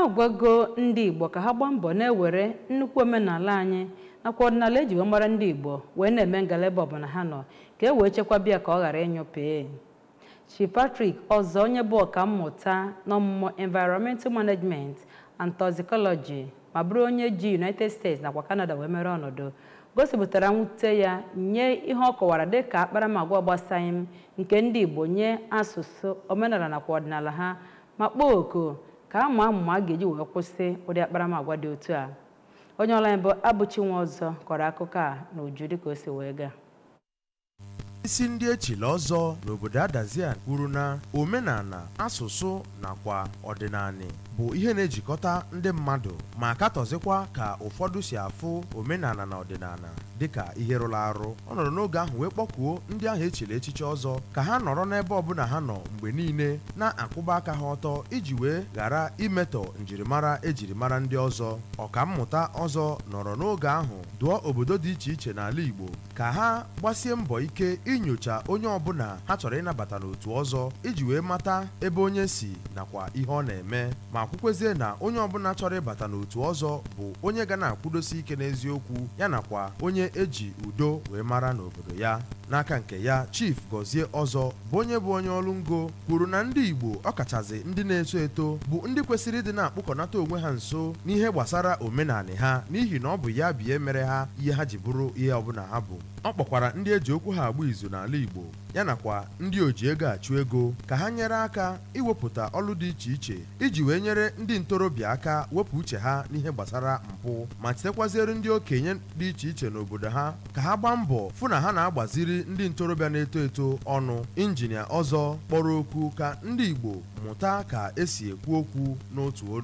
agwago ndị igbo ka ha gbaa mbọ na-ewere nnukwu omenala anyị nakwa ọdịnala eji wee mara ndị igbo wee na-eme ngala ebe ọbụla ha nọ ka e wee chekwaba ya ka ọ ghara ịnyụpee chief Patrick ọzọ onye bụ ọkammụta n'ọmụmụ environmental management and toxicology ma bụrụ onye ji United States nakwa Canada wee mere ọnọdụ gosipụtara mwute ya nye ihe ọ kọwara dịka akparamagwa ọ gbasaghị m nke ndị igbo nye asụsụ omenala nakwa ọdịnala ha ma kpọọ oku ka a maa amụma a ga-eji wee kwụsị ụdị akparamagwa dị otu a onye ọlụ anyị bụ Abụchi Nwọzọ kọrọ akụkọ a n'uju dịka o si wee gaa isi ndị echili ọzọ n'obodo Adazi Anị kwuru na omenala asụsụ nakwa ọdịnala bụ ihe na-ejikọta ndị mmadụ ma katọzikwa ka ụfọdụ si afụ omenala na ọdịnala dịka ihe rụrụ arụ ọ nọrọ n'oge ahụ wee kpọkuo ndị ahụ echiri echichi ọzọ ka ha nọrọ n'ebe ọbụla ha nọ mgbe niile na-akwụba aka ha ọtọ iji wee ghara imetọ njirimara ejiri mara ndị ọzọ ọkammụta ọzọ nọrọ n'oge ahụ dụọ obodo dị iche iche n'ala Igbo ka ha gbasie mbọ ike inyocha onye ọbụla ha chọrọ ịnabata n'otu ọzọ iji wee mata ebe onye si nakwa ihe ọ na-eme ma kwukwezie na onye ọbụla chọrọ ịbata n'otu ọzọ bụ onye ga na-akwụdosi ike n'eziokwu ya nakwa onye eji udo wee mara n'obodo ya n'aka nke ya chief Gọzie ọzọ bụ onye bụ onye ọlụ ngo kwuru na ndị igbo ọkachazị ndị na-eto eto bụ ndị kwesịrị ịdị na-akpụkọnata onwe ha nso n'ihe gbasara omenala ha n'ihi na ọ bụ ya bụ ihe mere ha ihe ha ji bụrụ ihe ọbụla ha bụ ọ kpọkwara ndị eji okwu ha agba izu n'ala igbo ya nakwa ndị oji ego achụ ego ka ha nyere aka iwepụta ọlụ dị iche iche iji wee nyere ndị ntorobịa aka wepụ uche ha n'ihe gbasara mpụ ma chetekwaziere ndị okenye dị iche iche n'obodo ha ka ha gbaa mbọ fụ na ha na-agbaziri ndị ntorobịa na-eto eto ọnụ injinia ọzọ kpọrọ oku ka ndị Igbo mụta ka esi ekwu okwu n'otu olu